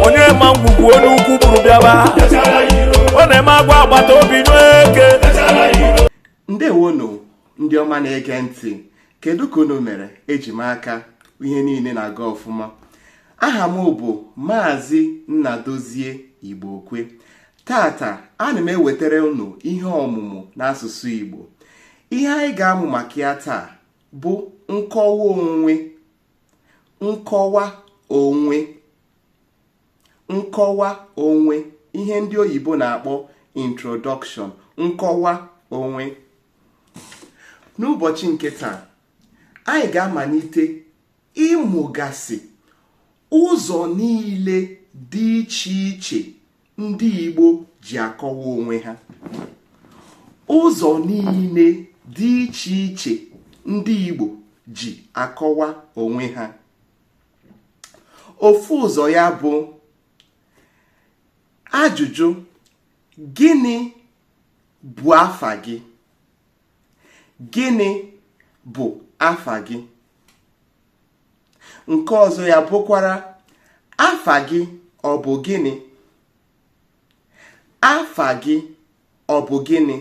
onye ma ngwugwu onye ukwu buru bịaba ọ na-eme agwa agbata obi n'eke ndewonu ndị ọma na-ege ntị kedu ka unu mere eji m aka ihe niile na-aga ọfụma aha m bụ maazị nnadozie igbo okwe tata ana m ewetara unu ihe ọmụmụ n'asụsụ igbo ihe anyị ga-amụ maka ya taa bụ nkọwa onwe nkọwa onwe nkọwa onwe ihe ndị oyibo na-akpọ introduction nkọwa onwe n'ụbọchị nke taa anyị ga-amalite ịmụgasị ụzọ niile dị iche iche ndị Igbo ji akọwa onwe ha ụzọ niile dị iche iche ndị Igbo ji akọwa onwe ha ofu ụzọ ya bụ ajụjụ gịnị bụ afa gị gịnị bụ afa gị nke ọzọ ya bụkwara afa gị ọ bụ gịnị afa gị ọ bụ gịnị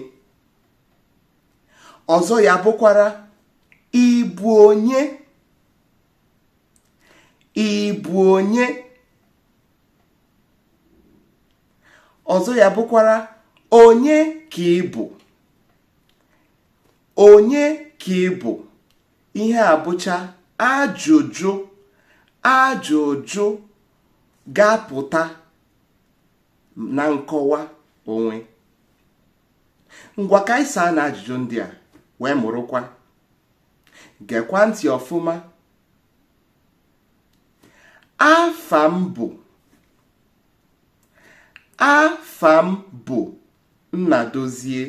ọzọ ya bụkwara ị bụ onye ị bụ onye ọzọ ya bụkwara onye ka ị bụ onye ka ị bụ ihe a bụcha ajụjụ ajụjụ ga-apụta na nkọwa onwe ngwa ka anyị saa na ajụjụ ndị a wee mụrụkwa gekwa ntị ọfụma afa m bụ afa m bụ Nnadozie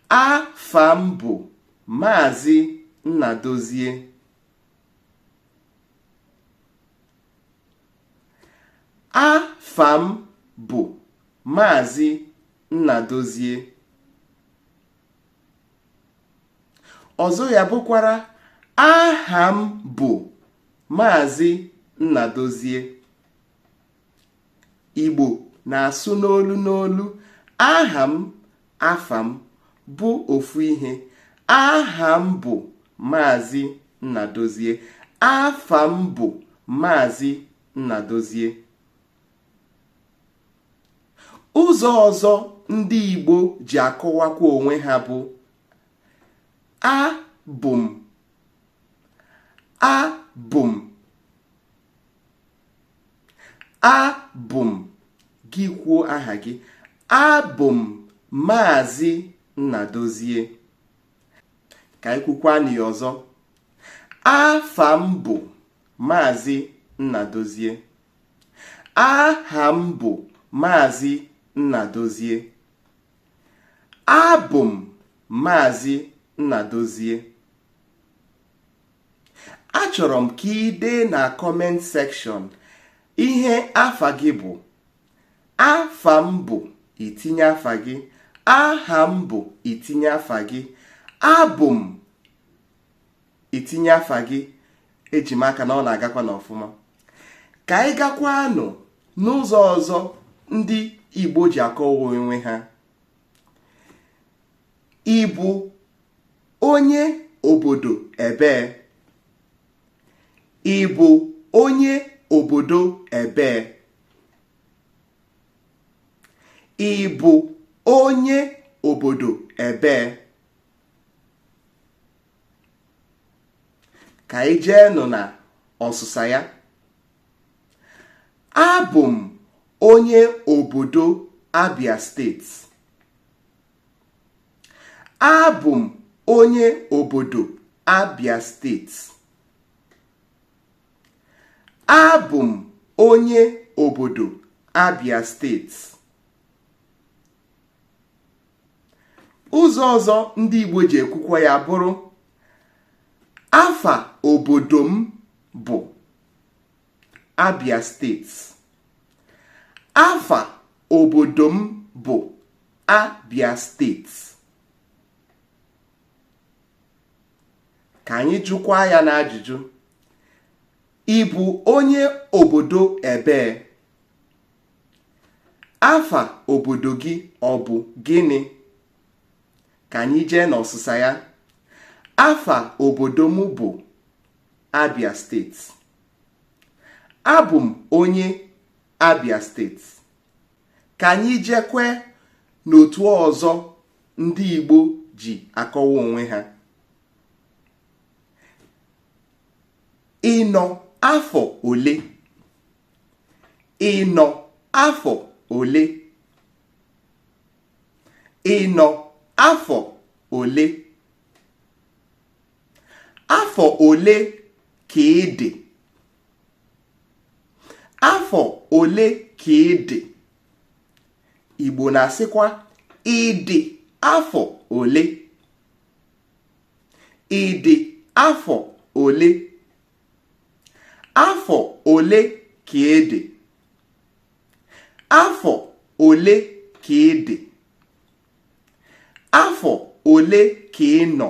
afa m bụ maazị nnadozie afa m bụ maazị nnadozie ọzọ ya bụkwara aha m bụ maazị nnadozie igbo na-asụ n'olu n'olu aha m afa m bụ ofu ihe aha m bụ maazị nnadozie afa m bụ maazị nnadozie ụzọ ọzọ ndị igbo ji akọwakwa onwe ha bụ abụ m abụ m abụ m gị kwuo aha gị abụ m maazị Nnadozie ka anyị kwukwa ya ọzọ afa m bụ maazị Nnadozie aha m bụ maazị Nnadozie abụ m maazị Nnadozie achọrọ m ka i dee na comment section ihe afa gị bụ afa m bụ i tinye afa gị aha m bụ i tinye afa gị abụ m i tinye afa gị eji m aka na ọ na-agakwa n'ọfụma ka anyị gakwanụ n'ụzọ ọzọ ndị Igbo ji akọwa onwe ha ịbụ onye obodo ebee ịbụ onye obodo ebee ịbụ onye obodo ebee ka anyị jee nọ na ọsụsa ya abụ m onye obodo Abia steeti abụ m onye obodo Abia steeti abụ m onye obodo Abia steeti ụzọ ọzọ ndị Igbo ji ekwukwa ya bụrụ afa obodo m bụ Abia steeti afa obodo m bụ Abia steeti ka anyị jụkwa ya n'ajụjụ ị bụ onye obodo ebee afa obodo gị ọ bụ gịnị ka anyị jee n'ọsịsa ya afa obodo m bụ Abia steeti abụ m onye Abia steeti ka anyị jekwe n'otu ọzọ ndị Igbo ji akọwa onwe ha ị nọ afọ ole ị nọ afọ ole ị nọ afọ ole afọ ole ka ị dị afọ ole ka ị dị Igbo na-asịkwa ị dị afọ ole ị dị afọ ole afọ ole ka ị dị afọ ole ka ị dị afọ ole ka ị nọ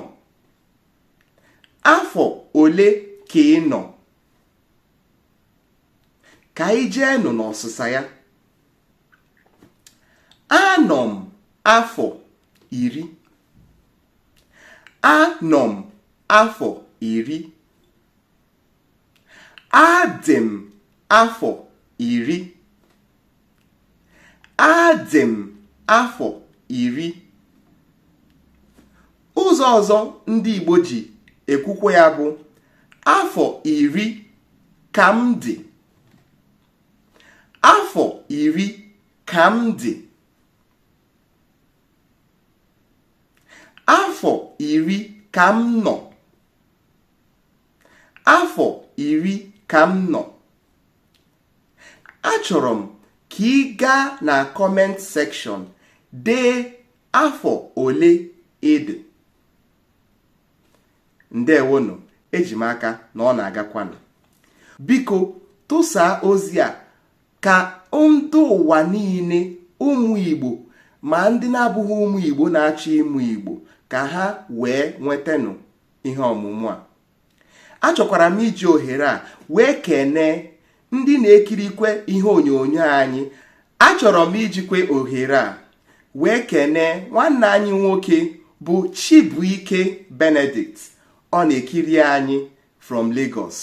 afọ ole ka ị nọ ka anyị jeenụ n'ọsịsa ya anọ m afọ iri anọ m afọ iri adị m afọ iri adị m afọ iri ụzọ ọzọ ndị Igbo ji ekwukwe ya bụ afọ iri ka m dị afọ iri ka m dị afọ iri ka m nọ afọ iri ka m nọ achọrọ m ka ị gaa na comment section dee afọ ole ị dị ndewonụ eji m aka na ọ na-agakwanụ biko tụsaa ozi a ka ndị ụwa niile ụmụ Igbo ma ndị na-abụghị ụmụ Igbo na-achọ ịmụ Igbo ka ha wee nwetanụ ihe ọmụmụ a achọkwara m iji ohere a wee kenee ndị na-ekirikwe ihe onyonyo anyị achọrọ m ijikwe ohere a wee kenee nwanne anyị nwoke bụ Chibuike Benedict ọ na-ekiri anyị from Lagos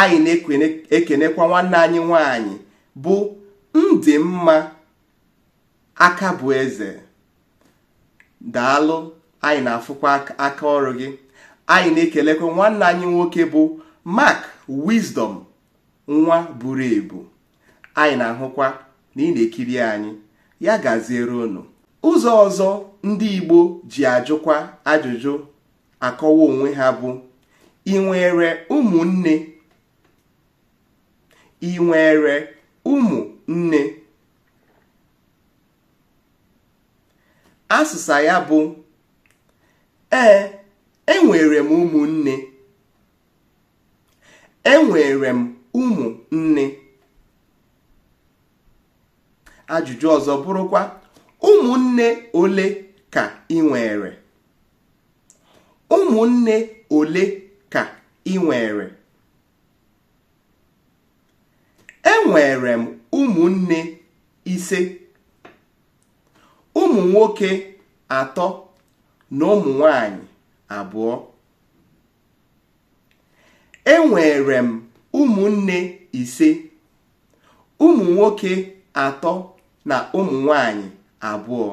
anyị na-ekenekwa nwanne anyị nwanyị bụ Ndịmma Akabueze daalụ anyị na-afụkwa aka ọrụ gị anyị na-ekelekwa nwanne anyị nwoke bụ Mark Wisdom nwa buru ebu anyị na-ahụkwa na ị na-ekiri anyị ya gaziere unu ụzọ ọzọ ndị Igbo ji ajụkwa ajụjụ akọwa onwe ha bụ ị nwere ụmụnne ị nwere ụmụnne asịsa ya bụ ee enwere m ụmụnne enwere m ụmụnne ajụjụ ọzọ bụrụkwa ụmụnne ole ka ị nwere ụmụnne ole ka ị nwere enwere m ụmụnne ise ụmụ nwoke atọ na ụmụ nwanyị abụọ enwere m ụmụnne ise ụmụ nwoke atọ na ụmụ nwanyị abụọ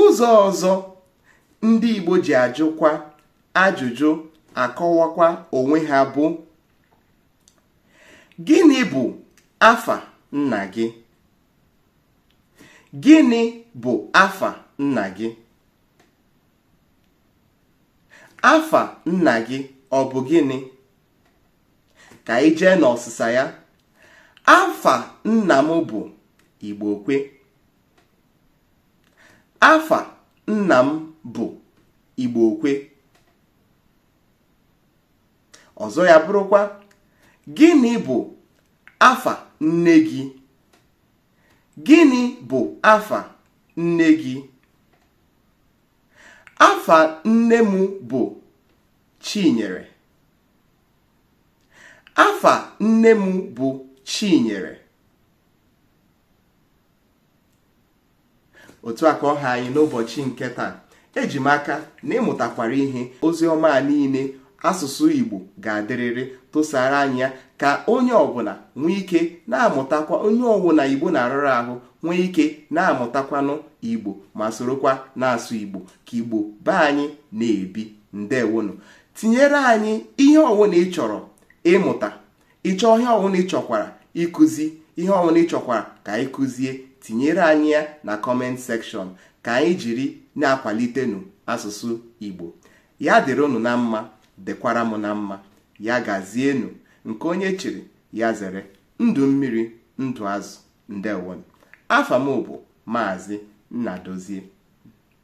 ụzọ ọzọ ndị Igbo ji ajụkwa ajụjụ akọwakwa onwe ha bụ gịnị bụ afa nna gị gịnị bụ afa nna gị afa nna gị ọ bụ gịnị ka anyị jee n'ọsịsa ya afa nna m bụ Igbokwe afa nna m bụ Igbokwe ọzọ ya bụrụkwa gịnị bụ afa nne gị gịnị bụ afa nne gị afa nne m bụ Chinyere afa nne m bụ Chinyere otu a ka ọ ha anyị n'ụbọchị nke taa eji m aka na ị mụtakwara ihe ozi ọma a niile asụsụ Igbo ga-adịrịrị tụsara anyị ya ka onye ọbụla nwee ike na-amụtakwa onye ọbụla Igbo na-arụrụ ahụ nwee ike na-amụtakwanụ Igbo ma sorokwa na-asụ Igbo ka Igbo be anyị na-ebi ndewonụ tinyere anyị ihe ọbụla ị chọrọ ịmụta ị chọ ihe ọbụla ị chọkwara ịkụzi ihe ọbụla ị chọkwara ka anyị kụzie tinyere anyị ya na comment section ka anyị jiri na-akwalitenụ asụsụ Igbo ya dịrị unu na mma dịkwara m na mma ya gazienụ nke onye chiri ya zere ndụ mmiri ndụ azụ ndewonụ afa m bụ maazị Nnadozie